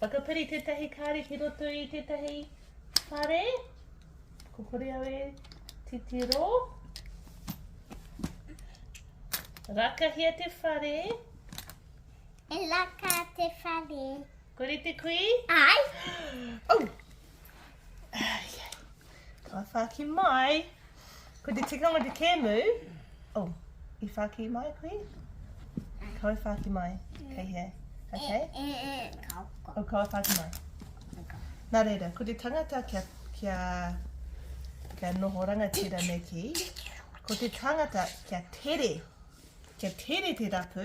Whakapiri tētahi kāri ki roto i tētahi whare. Ko hore au e titiro. Rakahia te whare. E laka te whare. Kore te kui? Ai. Oh. Ka whāki mai. Ko te tikanga te kēmu. Oh, i whāki mai koe? Ka au whāki mai. Kei hea. Okay. E, e, e, ka uka. O ka au whāki mai. Nā reira, ko te tangata kia, kia, kia noho rangatira me ki, ko te tangata kia tere, kia tere te rapu,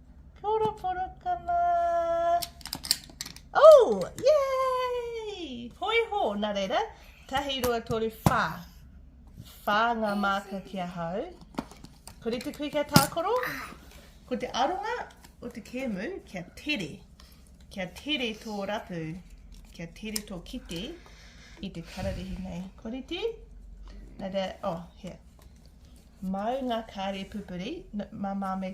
Poroporokana! Oh! Yay! Hoi ho, na reira, tahi, rua, toru, wha. Wha nga maka ki a hau. Ko rite kui kia tākoro? Ko te aronga o te kēmu, kia tere. Kia tere tō rapu, kia tere tō kite i te kararehe nei. Ko rite? Nā rea, oh, here. Mau ngā kāre pupuri, mā mā me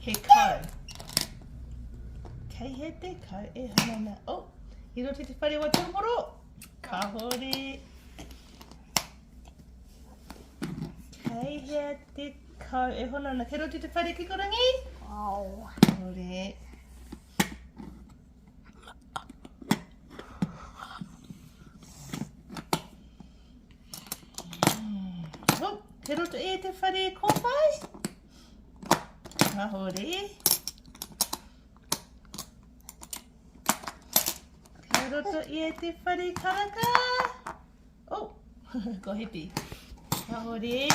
He kau. Kei he te kau e hanana. Oh, i roto te whare wa tūmoro. Kahore. Kei he te kau e hanana. Kei roto te whare kikorangi. Oh. Kahore. Te roto e te whare kōpai. Ahore. Te roto e te whare karaka. Oh! Kua hipi. Ka hori.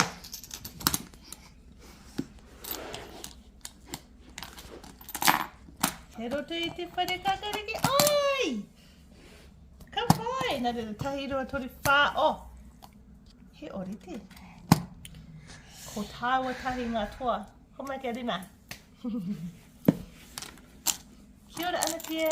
He roto i te whare kakariki. Oi! Ka whai! Nā rero, tahi roa tori whā. Oh! He orite. Ko tāua tahi ngā toa. Ko mai kia rina. Kia ora, Anatia.